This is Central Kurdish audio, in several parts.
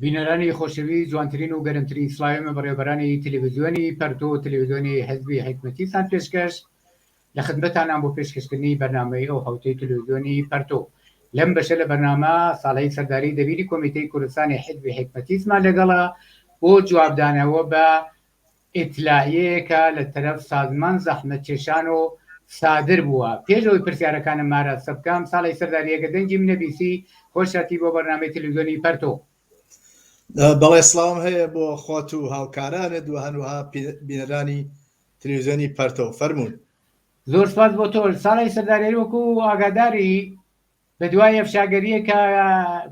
بینەرانی خۆشەوی جوانترین و گەرمترین سڵاوی من بەڕێوبەرانی تەلەڤیزیۆنی پەرتۆ و تەلەڤیزیۆنی حزبی حکمەتیتان پێشکەش لە خزمەتانان بۆ پێشکەشکردنی بەرنامەی ئەو حوتەی تەلەڤیزیۆنی پەرتۆ لەم بەشە لە بەرنامە ساڵەی سەرداری دەبیری کۆمیتەی کوردستانی حزبی حکمەتیزمان لەگەڵە بۆ جوابدانەوە بە ئیتلاعیەیەکە لە تەرەف سازمان زەحمەتکێشان و سادر بووە. پێش ئەوەی پرسیارەکانم ئاراستە بکەم، ساڵح سەرداری ئەگەر دەنگی منە بیسی خۆش هەتی بۆ بەرنامەی تەلەفزیۆنی پەرتۆ. بەڵێ سڵاوم هەیە بۆ خۆت و هاوکارانت و هەروەها بینەرانی تەلەفزیۆنی پەرتۆ. فەرموون. زۆر سوپاس بۆ تۆش ساڵح سەرداری وەکو ئاگاداری، لە دوای ئەفشاگەرییەکە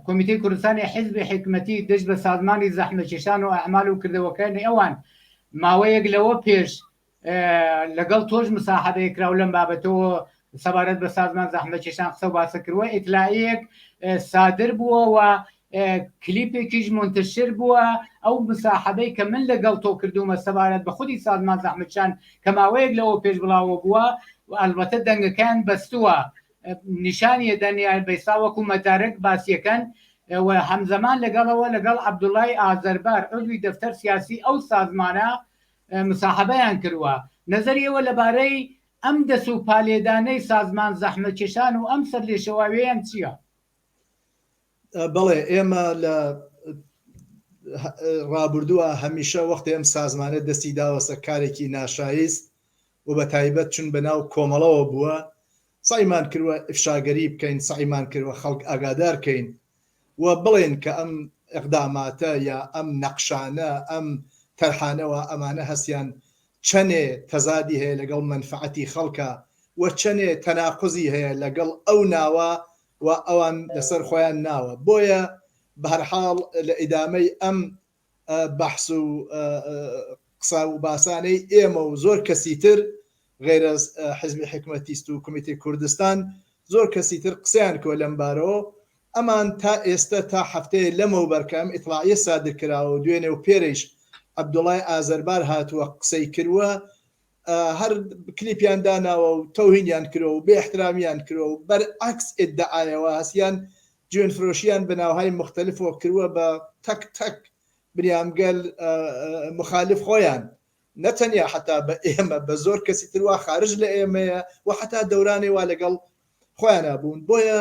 کۆمیتەی کوردستانی حیزبی حیکمەتی دژ بە سازمانی زەحمەکێشان و ئەعمال و کردەوەکانی ئەوان ماوەیەک لەوە پێش لەگەڵ تۆش مساحەبەیە کراو لەم بابەتەوە سەبارەت بە سازمان زەحمەکێشان قسە و باسە کردوە ئیتلایەک سادر بووە و کلیپێکیش منتشر بووە ئەو مساحەبەی کە من لەگەڵ تۆ کردومە سەبارەت بە خودی سازمان زەحمەکان کە ماوەیەک لەوە پێش بڵاوە بووە و ئەلبەتە دەنگەکان بەستووە نیشانی ئەدەن یان بەیسا وەکو مەتارک باسیەکەن و هەمزەمان لەگەڵەوە لەگەڵ عەبدوڵای ئازەربار عزوی دەفتەر سیاسی ئەو سازمانە مساحەبەیان کروە نەزەریەوە لەبارەی ئەم دەس و پالێدانەی سازمان زەحمەتکێشان و ئەم سەر لێشەواوێیان چیە؟ بەڵێ ئێمە لە ڕابردووە هەمیشە وەختی ئەم سازمانە دەستی داوەسە کارێکی ناشایست و بە تایبەت چون بە ناو کۆمەڵەوە بووە سەعیمان کردوە ئیفشاگەری بکەین سەعیمان کردوە خەڵک ئاگادار کەین و بڵێن کە ئەم ئیقداماتە یا ئەم نەقشانە ئەم تەرحانە وا ئەمانە هەستیان چەنێ تەزادی هەیە لەگەڵ مەنفعەتی خەڵکە و چەنێ تەناقوزی هەیە لەگەڵ ئەو ناوە و ئەوان لەسەر خۆیان ناوە بۆیە بە هەر حاڵ لە ئیدامەی ئەم بەحس و قسە و باسانەی ئێمە و زۆر کەسی تر غەیرەز حزبی حکمەتیست و کومیتەی کوردستان زۆر کەسی تر قسەیان کۆ لەم بارەوە ئەمان تا ئێستە تا حەفتەیە لەمەو بەرکەم ئیتڵاعیە سادر کراوە و دوێنێ و پێرەیش عەبدوڵای ئازەربار هاتووە قسەی کرووە هەر کلیپیان داناوە و تەوهینیان کرۆ و بێ احترامیان کرۆ و بەر عەکس ئدعایەوە هەسیان جوێن فرۆشیان بە ناوهای مختلفەوە کروە بە تەک تەک بریام گەل مخالف خۆیان نە تەنیا حەتا بە ئێمە بە زۆر کەسی تروا خارج لە ئێمەیە و حەتا دەورانێ وا لەگەڵ خۆیانە بوون بۆیە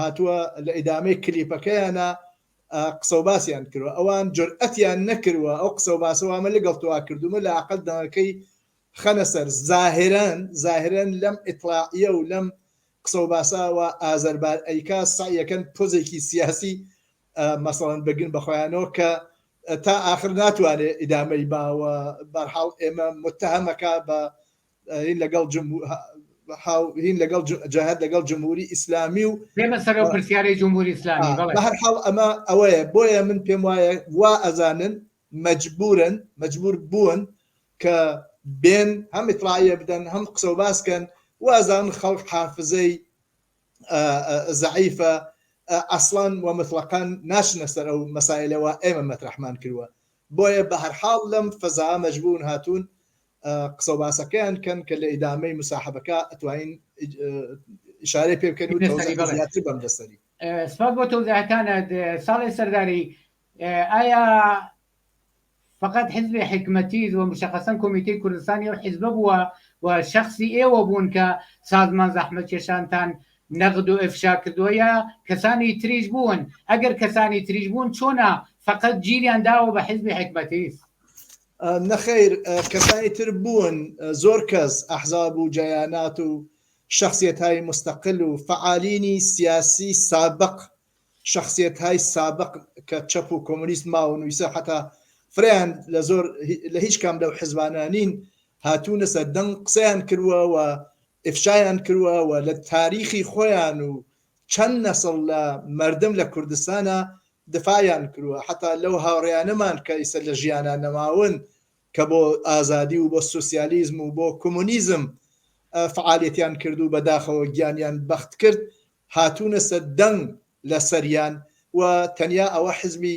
هاتووە لە ئیدامەی کلیپەکەیانا قسە و باسیان کردوە ئەوان جرئەتیان نەکردوە ئەو قسە و باسە وامە لەگەڵ توا کردومە لە عقل دەنگەکەی خەنە سەر زاهرەن زاهرەن لەم ئیتلاعە و لەم قسە و باساوە ئازەربار ئەیکا سعیەکەن پۆزێکی سیاسی مەسەڵەن بگن بەخۆیانەوە کە تا ئاخر ناتوانێت ئیدامەی باوە بەرحاڵ ئێمە متهمەکە بە هین لەگەڵ هین لەگەڵ جەهد لەگەڵ جمهوری ئیسلامی و پێمە سەر و پرسیارەی جمهوری ئیسلامی بە هەر حاڵ ئەمە ئەوەیە بۆیە من پێم وایە وا ئەزانن مەجبورن مەجبور بوون کە بێن هەم ئیتراە بدەن هەم قسە و باسکەن وازان خەڵک حافزەی زعیفە ئەسڵان و مطلقان ناشنە سەر ئەو مەسایلەوە ئێمە مەترحمان کردووە بۆیە بەهەرحاڵ لەم فەزا مەجبوون هاتوون قسە و باسەکەیان کەن کە لە ئیدامەی مساحبەکە ئەتوانین ئشارەی پێ بکەن زیاتر بەم دەسەری سپاس بۆ تەوزاکانت ساڵی سەرداری ئایا فقط حزب حکمەتی و مشخصن کمیته کوردستانی و حزب بووە و شخصی ئێوە بوون کە سازمان زەحمەت کێشانتان نەغد و ئفشا کردوە یا کەسانی تریش بوون ئەگەر کەسانی تریش بوون چۆنە فەقەت گیریان داوە بە حزبی حکمەتیس. نەخیر کەسانی تر بوون زۆر کەس ئەحزاب و جەیانات و شەخسیەتای مستقل و فەعالینی سیاسی سابق شەخسیەتهای سابق کە چەپ و کۆمۆنیست ماو نویسە حەتا فرەیان لە زۆر لە هیچ کام لەو حزبانە نین هاتوونە سەر دەنگ قسەیان کرووە و ئفشایان کرووە و لە تاریخی خۆیان و چەند نەسڵ لە مەردم لە کوردستانا دفاعیان کرووە حەتا لەو هاوڕێیانەمان کە ئیسە لە ژیانا نەماون کە بۆ ئازادی و بۆ سوسیالیزم و بۆ کۆمۆنیزم فعالیەتیان کرد و بەداخەوە گیانیان بەخت کرد هاتونە سە دەنگ لە سەریان و تەنیا ئەوە حزبی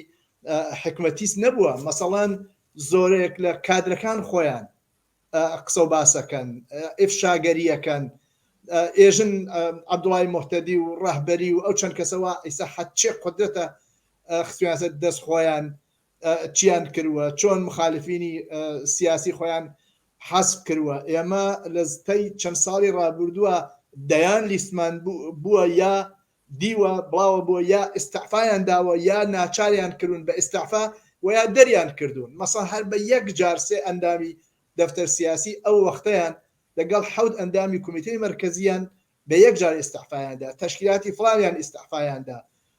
حکمەتیس نەبووە مەسەڵەن زۆرێک لە کادرەکان خۆیان قسە و باسەکەن ئفشاگەریەکەن ئێژن عبدوڵای محتەدی و ڕەهبەری و ئەو چەند کەسەوە ئیسا حەچێ قدرەتە خسویانسە دەست خۆیان چیان کروە چۆن مخالفینی سیاسی خۆیان حەسب کروە ئێمە لە زتەی چەند ساڵی ڕابردووە دەیان لیستمان بووە یا دیوە بڵاوە بۆ یا ئستعفایان داوە یا ناچاریان کردون بە ئستعفا و یا دەریان کردوون مەسە هەر بە یەک جار سێ ئەندامی دەفتەر سیاسی ئەو وەختەیان لەگەڵ حەوت ئەندامی کومیتەی مرکزیان بە یەک جار ئستعفایاندا تشکیلاتی فڵاویان ئستعفایاندا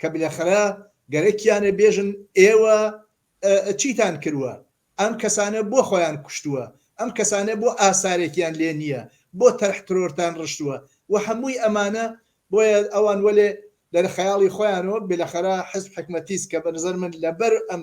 کە بلەخرە گەرەکیانە بێژن ئێوە چیتان کروە ئەم کەسانە بۆ خۆیان کوشتوە ئەم کەسانە بۆ ئاسارێکیان لێ نیە بۆ تەرح ترۆرتان رشتوە وە هەمووی ئەمانە بۆیە ئەوان وەلێ لەرە خەیاڵی خۆیانەوە بلەخرە حزب حکمەتیس کە بەنزەر من لەبەر ئەم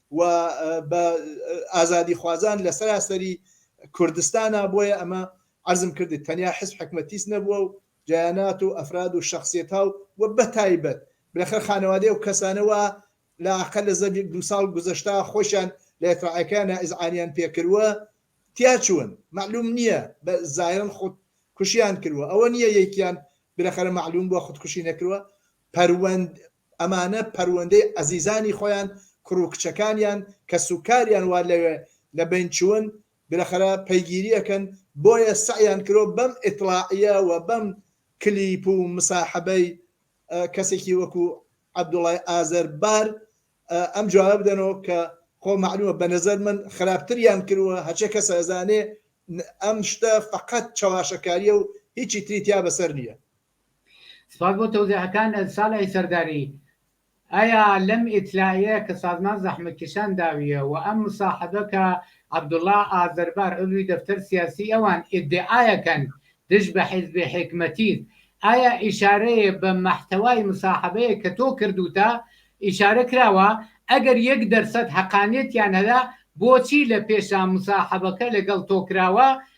و بە ئازادیخوازان لە سەراسەری کوردستانا بۆیە ئەمە عەرزم کردت تەنیا حزب حکمەتیس نەبووە و جەیانات و ئەفراد و شەخسیەتا و وە بەتایبەت بلەخەر خانەوادەی ئەو کەسانە وا لە ئاقە لە زەد یەک دوو ساڵ گوزەشتا خۆشیان لە ئێتڕاعەکەیانا ئیزعانیان پێ کرووە تیا چوون مەعلووم نییە بە زایەن خود کوشیان کرووە ئەوە نییە یەکیان بلەخەرە مەعلووم بووە خود کوشی نەکرووە پەروەند ئەمانە پەروەندەی ئەزیزانی خۆیان، کوڕ و کچەکانیان، کەسوکاریان وا لەوێ لە بەین چوون، بلەخەرە پەیگیرییەکەن، بۆیە سەعیان کرۆ بەم ئیتڵاعییە و بەم کلیپ و مساحبەی کەسێکی وەکوو عەبدوڵای ئازەر بار ئەم جوابە بدەنۆ کە خۆ مەعلوومە بە نەزەر من خراپتریان کرووە، هەرچێ کەس ئەزانێ ئەم شتە فەقەت چەواشەکارییە و هیچی تری تیا بەسەر نییە. سپاس بۆ تەوزیحەکانت سالحی سەرداری. ئایا لەم ئیتلائیەیە کە سازمان زەحمەتکێشان داویە و ئەم مساحەبە کە عەبدوڵا ئازەربار عضوی دەفتەر سیاسی ئەوان ئیدعایەکەن دژ بە حیزبی حیکمەتیت ئایا ئیشارەیە بە مەحتەوای مساحەبەیە کە تۆ کردوتە ئیشارە کراوە؟ ئەگەر یەک دەرسەد هەقانیەتیان هەیە بۆچی لە پێشا مساحەبەکە لەگەڵ تۆ کراوە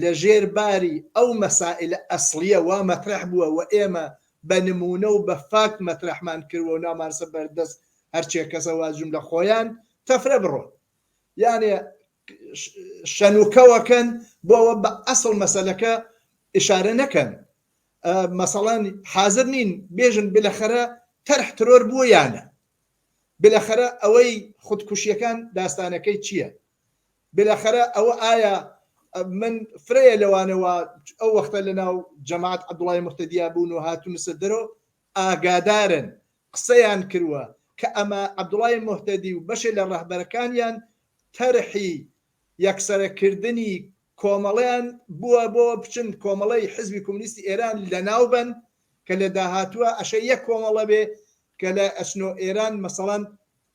لە ژێر باری ئەو مەسائیلە ئەسڵیە وا مەترەح بووە و ئێمە بە نموونە و بە فاکت مەترەحمان کردوە و نامانسە بەر دەست هەرچێ کەسە وا جوملە خۆیان تەفرە بڕۆن یانێ شەنوکەوە کەن بۆ ئەوە بە ئەسڵ مەسەلەکە ئشارە نەکەن مەسەڵەن حازر نین بێژن بلەخەرە تەرح ترۆر بووە یانە بلەخەرە ئەوەی خودکوشیەکان داستانەکەی چییە بێلاخەرە ئەوە ئایا من فرەیە لەوانە وا ئەو وەختە لە ناو جەماعەت عەبدوڵای موهتەدیا بوون و هاتونەسە دەرۆ ئاگادارن قسەیان کروە کە ئەمە عەبدوڵای موهتەدی و بەشێ لە ڕەهبەرەکانیان تەرحی یەکسەرە کردنی کۆمەڵەیان بووە بۆ بچن کۆمەڵەی حزبی کومنیستی ئێران لە ناو بەن کە لە داهاتوە ئەشێ یەک کۆمەڵە بێ کە لە ئەچنۆ ئێران مەسەڵەن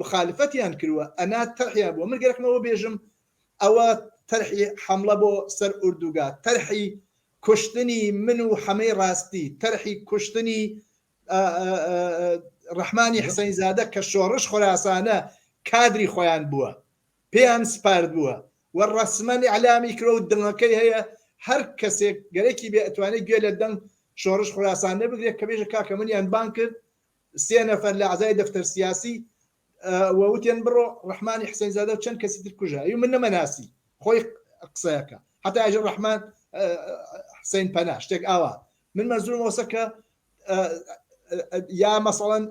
مخالفەتیان کروە ئەنا تەرحیان بوە من گەر حمەوە بێژم ئەوە تەرحی حەمڵە بۆ سەر ئوردوگا تەرحی کوشتنی من و حەمەی ڕاستی تەرحی کوشتنی ڕحمانی حسین زادە کە شۆڕش خۆراسانە کادری خۆیان بووە پێیان سپارد بووە و ڕسممەنی علامی کرۆ و دڵەکەی هەیە هەر کەسێک گەرەکی بێ ئەتوانێت گوێ لە دەنگ شۆڕش خوراسان نەبگرێت کە بێژە کاکە منیان بان کرد سێ نەفەر لە عەزای دەفتەر سیاسی ووتێن بڕۆ ڕحمانی حسین زادە چەند کەسی تر کوژە ئەو من نەمەناسی خۆی قسەکە حتا ئەژ ڕحمان حسین پەنا شتێک ئاوا من مەزور وەسەکە یا مەسەڵەن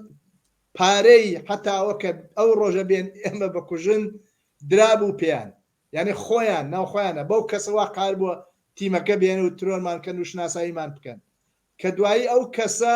پارەی حتاوەکە ئەو ڕۆژە بێن ئێمە بەکوژن درابوو پێیان یعنی خۆیان ناوخۆیانە بەو کەسەوە قار بووە تیمەکە بێن و ترۆرمان کەن و شناساییمان بکەن کە دوایی ئەو کەسە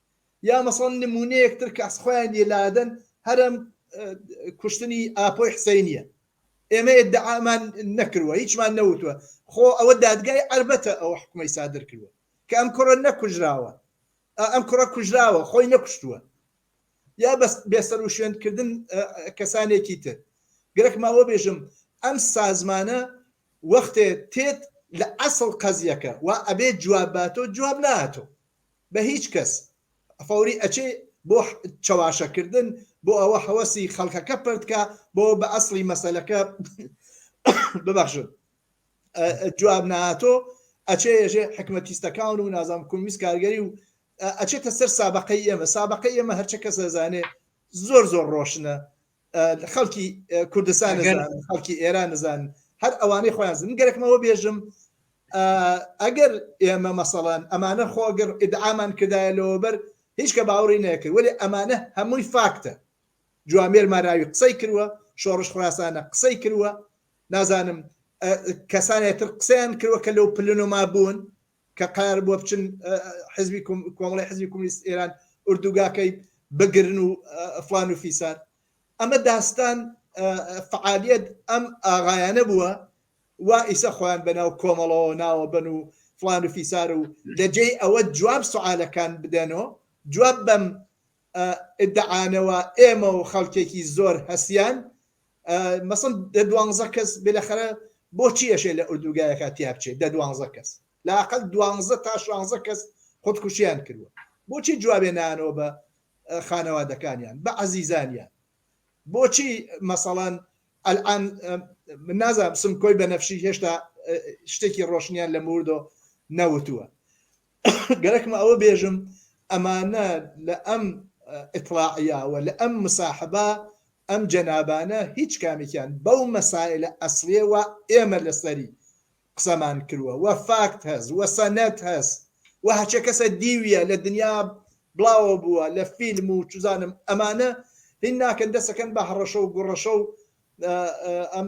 یا مەسەڵەن نموونەیەک تر کە خۆیان یە لادەن هەرم کوشتنی ئاپۆی حسینیە ئێمە ئێدعامان نەکردوە هیچمان نەوتوە خۆ ئەوە دادگای ئەربەتە ئەو حکومەی سادر کردوە کە ئەم کوڕە نەکوژراوە ئەم کوڕە کوژراوە خۆی نەکوشتووە یا بەس بێسەر و شوێنکردن کەسانێکی تر گرک ماوە بێژم ئەم سازمانە وەختێ تێت لە ئەسڵ قەزیەکە و ئەبێ جواباتۆ جواب ناتۆ بە هیچ کەس فەوری ئەچێ بۆ چەواشە کردن بۆ ئەوە هەوەسی خەڵکەکە پرت کا بۆ بە ئەسڵی مەسەلەکە ببەخشن جواب ناتۆ ئەچێ ێژێ حکمەتیستەکان و نازام کومیس کارگەری و ئەچێتە سەر سابقەی ئێمە سابقەی ئێمە هەرچە کەس دەزانێ زۆر زۆر ڕۆشنە خەڵکی کوردستان خەڵکی ئێران نزان هەر ئەوانەی خۆیان زن گەرەکمەوە بێژم ئەگەر ئێمە مەسەڵەن ئەمانە خۆگەر ئیدعامان کردایە لەوەبەر هیچ کە باوەڕی نەکرد ولی ئەمانە هەمووی فاکتە جوامێر ماراوی قسەی کردوە شۆڕش خراسانە قسەی کردوە نازانم کەسانێتر قسەیان کردوە کە لەو پلنۆما بوون کە قەرار بووە بچن حزبی کۆمەڵی حزبی کومنیست ئێران ئوردوگاکەی بگرن و فلان و فیسار ئەمە داستان فعالیت ئەم ئاغایانە بووە وا ئیسە خۆیان بەناو کۆمەڵەوە ناوە بن و فلان و فیسار و لە جێی ئەوە جواب سوعاالەکان بدەنەوە جواب بەم ئدعاانەوە ئێمە و خەڵکێکی زۆر هەسیان مەسەن دە دوانزە کەس بێلەخەرە بۆچی ئەشێ لە ئۆردوگایەکە تیا بچێت دە دوانزە کەس لاقل دوانزە تا شانزە کەس خودکوشیان کردوە بۆچی جوابێ نانەوە بە خانەوادەکانیان بە عزیزانیان بۆچی مەسەڵەن ئەلان من نازانم سمکۆی بەنەفشی هێشتا شتێکی ڕۆشنیان لە موردۆ نەوتووە گەرەکمە ئەوە بێژم ئەمانە لە ئەم ئیتڵاعیاوە لە ئەم مساحبە ئەم جەنابانە هیچ کامێکیان بەو مەسایلە ئەسلێ و ئێمە لەسەری قسەمان کرووە وە فاکت هەز وە سەنەت هەز و هەچە کەسە دیویە لە دنیا بڵاوە بووە لە فیلم و چزانم ئەمانە هین ناکەن دەسەکەن بە هەڕەشە و گوڕەشە و ئەم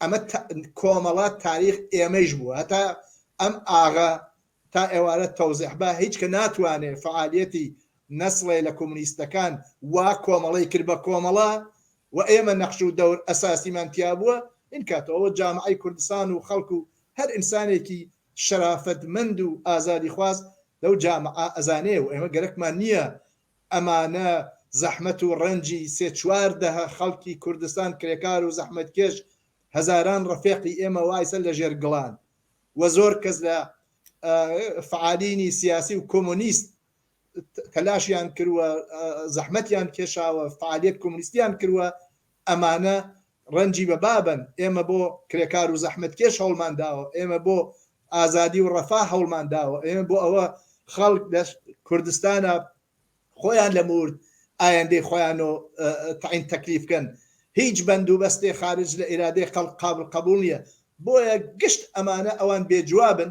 ئەمە تا کۆمەڵە تاریخ ئێمەیش بوو هەتا ئەم ئاغە تا ئێوارە تەوزێح با هیچ کە ناتوانێ فەعالیەتی نەسڵێ لە کۆمونیستەکان وا کۆمەڵەی کرد بە کۆمەڵە و ئێمە نەخش و دەور ئەساسیمان تیا بووە ئین کاتە ئەوە جامعەی کوردستان و خەڵک و هەر ئینسانێکی شەرافەتمەند و ئازادیخواز لەو جامعە ئەزانێ و ئێمە گەرەکمان نییە ئەمانە زەحمەت و ڕەنجی سێ چوار دەهە خەڵکی کوردستان کرێکار و زەحمەتکێش هەزاران ڕەفێقی ئێمە وایسە لە ژێر گڵان و زۆر کەس لە فعالینی سیاسی و کۆمۆنیست تەلاشیان کروە زەحمەتیان کێشاوە فعالیەت کۆمۆنیستیان کروە ئەمانە ڕەنجی بە بابەن، ئێمە بۆ کرێکار و زەحمەتکێش هەوڵمان داوە، ئێمە بۆ ئازادی و ڕەفاه هەوڵمان داوە، ئێمە بۆ ئەوە خەڵک لە کوردستانا خۆیان لە مورد ئایەندەی خۆیانۆ تەعین تەکلیف کەن، هیچ بەند و بەستێ خارج لە ئیرادەی خەڵک قابل قەبوڵ نیە، بۆیە گشت ئەمانە ئەوان بێ جوابن،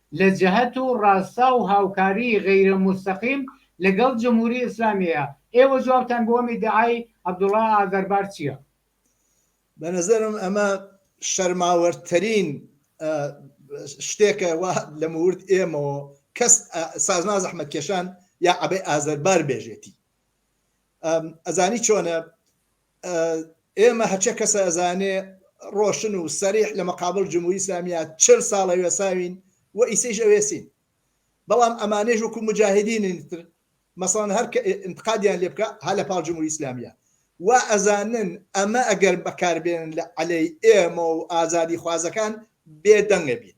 لە جەهەت و ڕاستا و هاوکاریی غەیرە موستەقیم لەگەڵ جمهوری ئیسلامییە، ئێوە جوابتان بۆ ئەم ئیدعای عەبدوڵا ئازەربار چییە؟ بە نەزەرم ئەمە شەرماوەرترین شتێکە وا لە مورد ئێمەوە کەس سازمان زەحمەتکێشان یا عەبەی ئازەربار بێژێتی ئەزانی چۆنە ئێمە هەچە کەسە ئەزانێ ڕۆشن و سەریح لە مەقابل جمهوری ئیسلامیە چل ساڵە وێساوین و ئیسەیش ئەوێسین بەڵام ئەمانێش وەکو مجاهدینی تر مەسەڵەن هەر کە انتقادیان لێ بکە هەر لە پاڵ جمهوری ئیسلامیە وا ئەزانن ئەمە ئەگەر بەکاربێنن لە عەلەی ئێمە و ئازادی خوازەکان بێدەنگە بین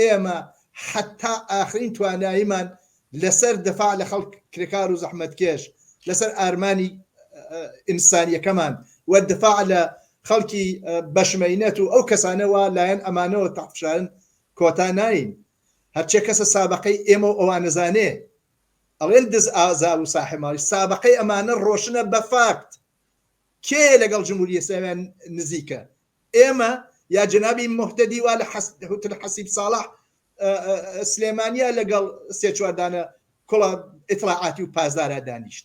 ئێمە حەتا ئاخرین تواناییمان لەسەر دفاع لە خەڵک کرێکار و زەحمەتکێش، لەسەر ئارمانی ئینسانیەکەمان و دفاع لە خەڵکی بەشمەینەت و ئەو کەسانە وا لایەن ئەمانەوە تحت فشارن کۆتا نایین. هەرچێ کەسە سابەقەی ئێمە و ئەوانەزانێ ئەڵێن دز ئازا و ساحێ ماڵی سابەقەی ئەمانە ڕۆشنە بە فاکت. کێیە لەگەڵ جمهوری ئیسلامیان نزیکە؟ ئێمە یا جەنابی موهتەدی وا لە هوتل حەسیب ساڵح سلێمانیا لەگەڵ سێ چوار دانە کوڵە ئیتلاعاتی و پاسدارا دانیشت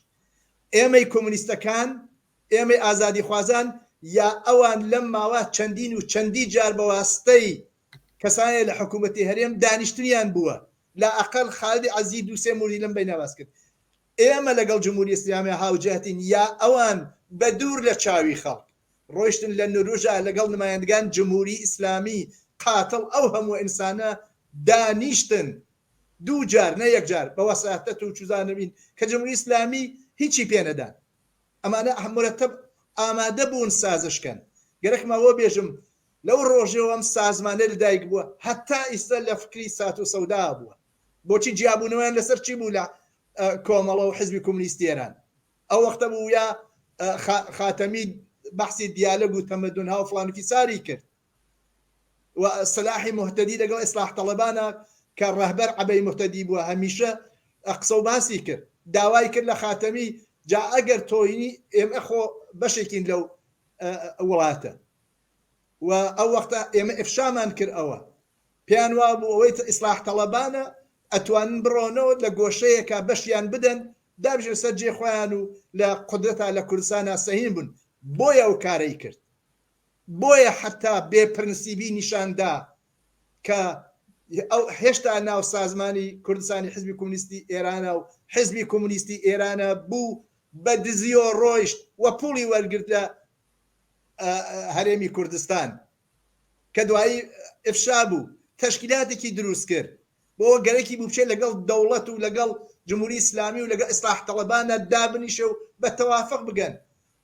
ئێمەی کۆمونیستەکان ئێمەی ئازادی خوازان یا ئەوان لەم ماوە چەندین و چەندی جار بە واستەی کەسانێ لە حکوومەتی هەرێم دانیشتنیان بووە لا ئەقل خالدی عەزی دوو سێ موردی لەم بینە باس کرد ئێمە لەگەڵ جمهوری ئیسلامی هاوجەهتین یا ئەوان بە دوور لە چاوی خەڵک ڕۆیشتن لە نروژا لەگەڵ نمایندگان جمهوری ئیسلامی قاتڵ ئەو هەموو ئینسانە دانیشتن دوو جار نە یەک جار بە وەساتەت و چوزانەوین کە جمهوری ئیسلامی هیچی پێ نەدان ئەمانە مورەتەب ئامادە بوون سازش کەن گەرەک ماوە بێژم لەو ڕۆژەوەم سازمانە لە دایک بووە هەتا ئیستا لە فکری سات و سەودا بووە بۆچی جیابوونەوەیان لەسەر چی بوو لە کۆمەڵە و حزبی کۆمونیستی ئێران ئەو وەختە بوو یا خاتەمی بەحسی دیالەگ و تەمەدون ها و فلانی فیساری کرد و سلاحی مهتدی لەگەڵ ئیسلاح تەڵەبانە کە ڕەهبەر عەبەی مهتدی بووە هەمیشە قسە و باسی کرد داوای کرد لە خاتەمی جا ئەگەر تۆینی ئێمە خۆ بەشێکین لەو وڵاتە و ئەو وەختە ئێمە ئفشامان کرد ئەوە پێیان وابوو ئەوەی ئیسلاح تەڵەبانە ئەتوانن بڕۆنەوە لە گۆشەیەکا بەشیان بدەن دابژێن سەر جێ خۆیان و لە قودرەتا لە کوردستانا سەهیم بن بۆیە ئەو کارەی کرد بۆیە حەتا بێ پرنسیبی نیشان دا کە ئەو هێشتا ناو سازمانی کوردستانی حزبی کۆمونیستی ئێرانە و حزبی کۆمونیستی ئێرانە بوو بە دزیۆ ڕۆیشت و پوڵی وەرگرت لە هەرێمی کوردستان کە دوایی ئفشا بوو، تەشکیلاتێکی دروست کرد بۆ ئەوە گەرەکی بوو بچێت لەگەڵ دەوڵەت و لەگەڵ جمهوری ئیسلامی و لەگەڵ ئیسلاح تەڵەبانە دابنیشێ و بە تەوافق بگەن،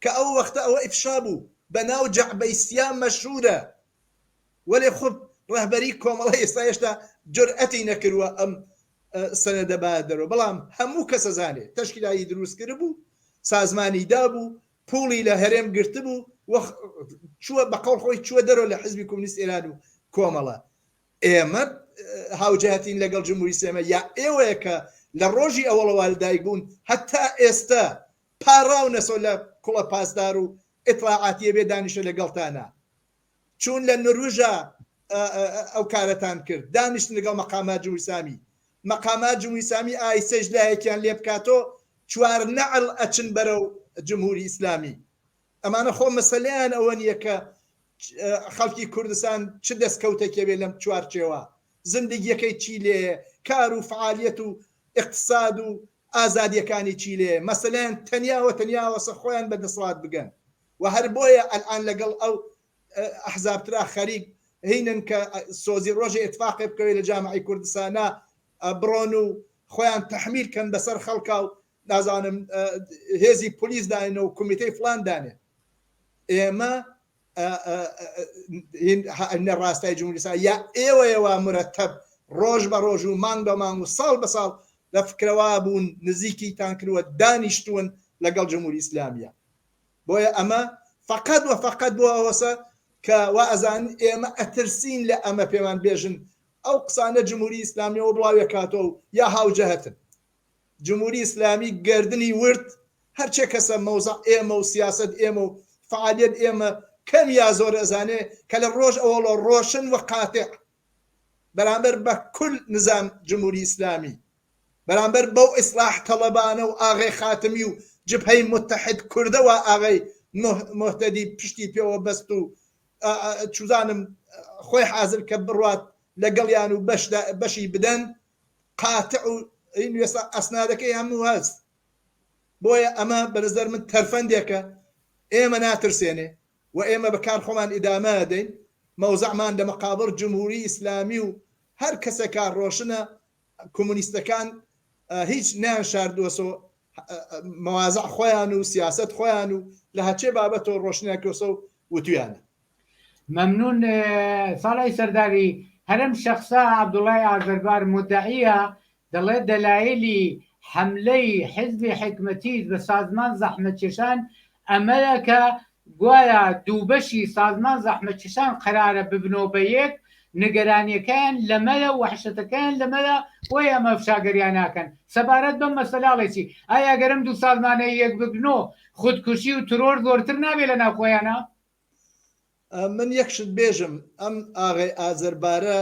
کە ئەو وەختە ئەوە ئفشا بوو، بە ناو جەعبەی سیا مەشهورە، وەلێ خود ڕەهبەری کۆمەڵە ئێستا هێشتا جورئەتی نەکردووە ئەم سەنەدە بایە دەرەوە، بەڵام هەموو کەس ئەزانێ تەشکیلاتی دروست کردبوو، سازمانی دابوو، پوڵی لە هەرێم گرتبوو و چووە بە قەوڵ خۆی چووە دەرەوە لە حیزبی کۆمونیست ئێران و کۆمەڵە ئێمە هاوجهتین لەگەڵ جمهوری سێمە یا ئێوەیە کە لە ڕۆژی ئەوەڵەوە لەدایک بوون هەتا ئێستا پاڕاونەسۆ لە کوڵە پاسدار و ئیتڵاعاتیە بێ دانیشە لەگەڵتانا. چوون لە نروژا ئەو کارەتان کرد دانیشتن لەگەڵ مەقامات جمهوری ئیسلامی مەقامات جمهوری ئیسلامی ئایسەش لایەکیان لێ بکاتۆ چوار نەعل ئەچن بەرەو جمهوری ئیسلامی ئەمانە خۆ مەسەلیان ئەوە نییە کە خەڵکی کوردستان چ دەستکەوتەکەوێ لەم چوارچێوە زندگیەکەی چی لێ کار و فعالیت و اقتصاد و ئازادیەکانی چی لێ مەسەلیان تەنیاوە تەنیاوەسە خۆیان بە دەسڵات بگەن و هەر بۆیە ئەلئان لەگەڵ ئەو ئەحزاب ترا خەریک هینن کە سۆزی ڕۆژێ ئتفاقێ بکەوێ لە جامعی کوردسانا بڕۆن و خۆیان تەحمیل کەن بەسەر خەڵکا و نازانم هێزی پلیس داێنە و کومیتەی فلان دانێ ئێمە نە ڕاستای جمهوریسا یا ئێوەیەوە مرەتەب ڕۆژ بە ڕۆژ و مانگ بە مانگ و ساڵ بە ساڵ لە فکرەوا بوون نزیکی تان کردوە دانیشتون لەگەڵ جمهوری ئیسلامیە بۆیە ئەمە فەقەت وە فەقەت بۆ ئەوەسە کە وائەزانن ئێمە ئەترسین لە ئەمە پێمان بێژن ئەو قسانە جموری ئیسلامیەوە بڵاوێ کاتەوە و یا هاوجەهتن جموری ئیسلامی گردنی ورد هەرچێ کەسە مەوزە ئێمە و سیاست ئێمە و فعالیت ئێمە کەم یا زۆر ئەزانێ کە لە ڕۆژ ئەوڵە ڕۆشن و قاتێ بەرامبەر بە کل نزام جمهوری ئیسلامی بەرامبەر بەو ئیسلاح تەڵەبانە و ئاغەی خاتمی و جبهەی موتەحید کوردە وا ئاغەی موهتەدی پشتی پێوە بەست و چوزانم خۆی حازر کە بڕوات لە گەڵیان و بەشی بدەن قاتع و وێسا ئەسنادەکەی هەموو هەست بۆیە ئەمە بەنەزەر من تەرفەندێکە ئێمە ناترسێنێ و ئێمە بە کار خۆمان ئیدامە دەین مەوزەعمان لە مەقابڕ جمهوری ئیسلامی و هەر کەسێکا ڕۆشنە کۆمۆنیستەکان هیچ نیان شاردوەسۆ مەوازع خۆیان و سیاست خۆیان و لە هەچێ بابەتەوە ڕۆشنیان کۆسە و وتویانە مەمنون ساڵی سەرداوی هەرم شخصە عبدوڵای ئازەربار مدعیە دەڵێت دەلایلی حەملەی حزبی حکمەتیس بە سازمان زەحمەتکێشان ئەمەیە کە گوایە دووبەشی سازمان زەحمەتکێشان قەرارە ببنەوە بە یەک، نگەرانییەکەیان لەمەیە و وەحشەتەکەیان لەمەیە، بۆیە ئەمە فشاگەریان ناکەن. سەبارەت بەم مەسەلە ئەڵێ چی؟ ئایا ئەگەر ئەم دوو سازمانە یەک ببنۆ، خودکوشی و ترۆر زۆرتر نابێ لە ناو خۆیانا؟ من یەک شت بێژم، ئەم ئاغای ئازەربارە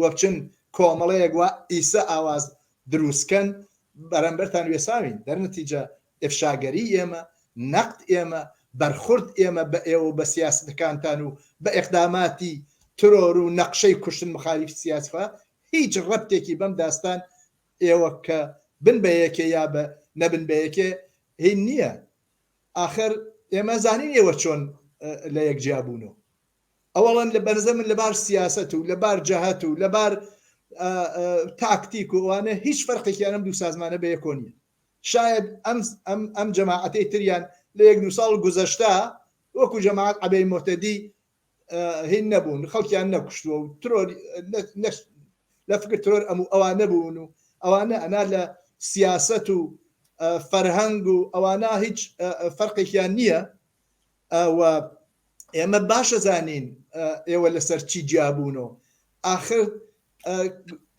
و بچن کۆمەڵەیەک وا ئیسە ئاواز دروست کەن بەرەمبەرتان وێساوین دەرنەتیجە ئفشاگەری ئێمە نەقد ئێمە بەرخورد ئێمە بە ئێوە و بە سیاسەتەکانتان و بە ئێقداماتی ترۆر و نەقشەی کوشتن مخالیف سیاسفە هیچ ڕەبتێکی بەم داستان ئێوە کە بن بە یەکێ یا بە نەبن بە یەکێ هین نییە ئاخر ئێمە زانین ئێوە چۆن لە یەک جیابوونەوە ئەوەڵەن لە بەرزە من لەبار سیاسەت و لەبار جەهەت و لەبار تاکتیک و ئەوانە هیچ فەرقێکیانم دوو سازمانە بە یەکۆ نیە شاید ئەم ئەم ئەم جەماعەتەی تریان لە یەک دو ساڵ گوزەشتا وەکو جەماعات عەبەی مۆتەدی هین نەبوون خەڵکیان نەکوشتووە و ترۆر لە فکر ترۆر ئەم و ئەوان نەبوون و ئەوانە ئەنا لە سیاست و فەرهەنگ و ئەوانە هیچ فەرقێکیان نییە ئەوە ئێمە باشە زانین ئێوە لەسەر چی جیابوون و ئاخر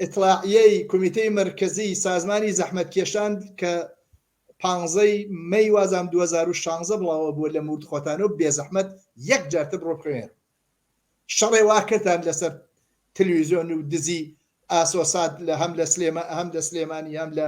ئتلاعیەی کمیتەی مرکزی سازمانی زەحمەت کێشان کە پانزەی مەی وازام 2016 بڵاوە بووە لە مورد خۆتان و بێزەحمەت یەک جارتە بڕۆ بخوێن شەڕێ واکردان لەسەر تلویزیۆن و دزی ئاسۆسات لە هەم لە سلێمە هەم لە سلێمانی هەم لە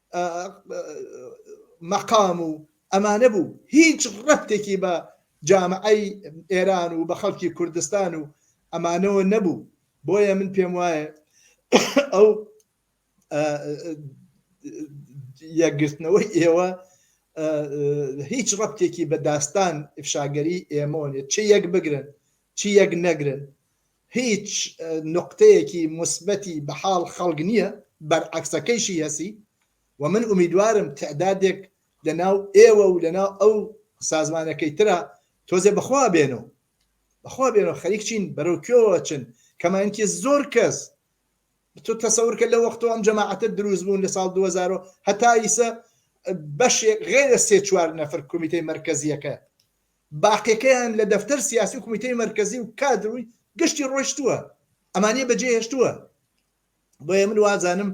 مەقام و ئەمانە بوو هیچ ڕەتێکی بە جامعی ئێران و بە خەڵکی کوردستان و ئەمانەوە نەبوو بۆیە من پێم وایە ئەو یەکگرتنەوەی ئێوە هیچ ڕەتێکی بە داستان ئفشاگەری ئێمۆنێت چ یەک بگرن چی یەک نەگرن هیچ نوقتەیەکی موسبەتی بە حاڵ خەڵک نیە بەرعەکسەکەیشی هەسی و من ئومیدوارم تەعدادێک لە ناو ئێوە و لە ناو ئەو سازمانەکەی ترا تۆزێ بە خوا بێنەوە بە خوا بێنەوە خەریک چین بەرەو کوێوە چن کەمانکی زۆر کەس تۆ تەسەورکە لە وەختەوە ئەم جەماعەتە دروست بوون لە ساڵ 2000 هەتا ئیسە بەشێک غێرە سێ چوار نەفر کمیتەی مرکزیەکە باقیەکەیان لە دەفتەر سیاسی و کومیتەی مەرکەزی و کادر و گشتی ڕۆیشتووە ئەمانیە بەجێ هێشتووە بۆیە من وازانم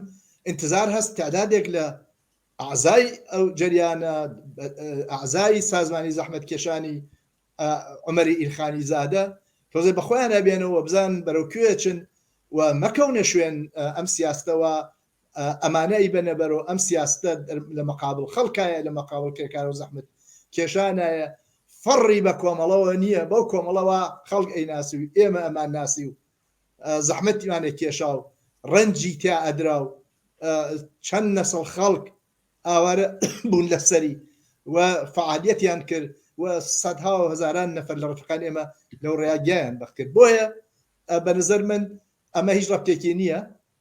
انتظار هەست تعدادێک لە ئازای ئەو جریانە ئازای سازمانی زەحمت کێشانی عمەری ئیلخانی زادە تۆزێ بەخۆیان ئەبێنەوە بزان بەرەو کوێچن و مەکەونە شوێن ئەم سیاستەوە ئەمانە ی بەنە بەرو ئەم سیاستە لە مەقابڵ خەڵکایە لە مەقابڵ کرێکارو زەحمەت کێشانایە فەڕی بە کۆمەڵەوە نیە بەو کۆمەڵە وا خەڵک ئەی ناسی و ئێمە ئەمان ناسی و زەحمەتیمان ە کێشا و ڕەنجی تیا ئەدرا و چەند نەسڵ خەڵک ئاوارە بوون لە سەری و فعالیەتیان کرد و سەدها و هەزاران نەفەر لە ڕفقان ئێمە لەو ڕێیا گیان بەخکرد بۆیە بە نظر من ئەمە هیچ ڕەبتێکی نییە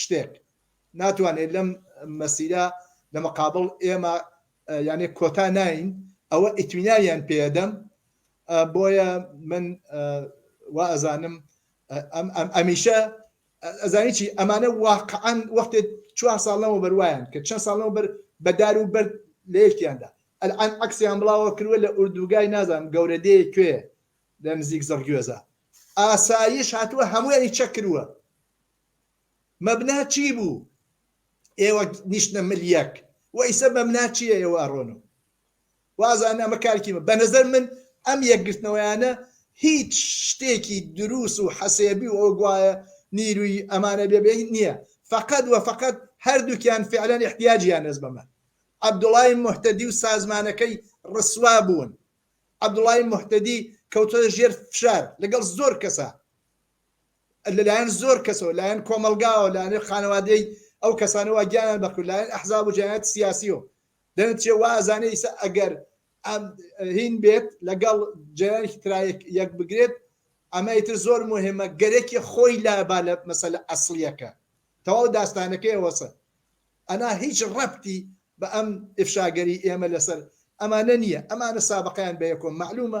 شتێک ناتوانێت لەم مەسیرە لە مقابڵ ئێمە یانێ کۆتا ناین ئەوە ئیتمیناویان پێدەم بۆیە من وا ئەزانم ئەمیشە ئەزانی چی ئەمانە واقعان وەختێ چوار ساڵەوە بەروایان کە چەند ساڵەوە بەر بەدار و بەر لە یەکیاندا ئەلعان عکسیان بڵاوە کردوە لە ئوردوگای نازانم گەورە دێ کوێ لە نزیک زڕگوێزە ئاسایش هاتووە هەمووی چەک کردووە مەبنا چی بوو ئێوە نیشتنە مل یەک و ئیسە مەمنا چیە ئێوە ئەڕۆن و وازان ئەمە کارکی من بەنەزەر من ئەم یەکگرتنەوەیانە هیچ شتێکی دروس و حەسێبی و ئەو گوایە نیروی ئەمانە بێ بێ نییە فقط و فقط هەردووکیان فعلەن احتیاجیان نەز بەمە عبدوڵای مهتەدی و سازمانەکەی ڕسوا بوون عبدوڵای مهتەدی کەوتە ژێر فشار لەگەڵ زۆر کەسە لە لایەن زۆر کەسەوە، لایەن کۆمەڵگاوە، لایەن خانەوادەی ئەو کەسانە وا گیانیان بەخت کرد، لایەن ئەحزاب و جەنایەتی سیاسیەوە دەنرچێ، وا ئەزانێ ئیسە ئەگەر ئەم هین بێت لەگەڵ جەرانێکی ترا یەک بگرێت، ئەمە ئیتر زۆر موهیمە، گەرەکیە خۆی لا با لە مەسەلە ئەسڵیەکە، تەواو داستانەکەی ئەوەسە، ئەنا هیچ ڕەبتی بە ئەم ئیفشاگەری ئێمە لەسەر ئەمانە نیە، ئەمانە سابقەیان بە یەکۆم مەعلومە،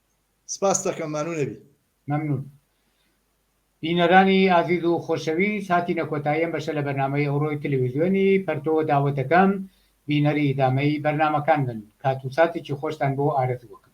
سپاست دەکەم ممنون ئەبی. مەمنون بینەرانی ئازیز و خۆشەویست هاتینە کۆتایی ئەم بەشە لە بەرنامەی ئەوڕۆی تلویزیۆنی پەرتۆ داوەتەکەم بینەری ئیدامەی بەرنامەکان بن کات و ساتێکی خۆشتان بۆ ئارەزوو ئەکەم.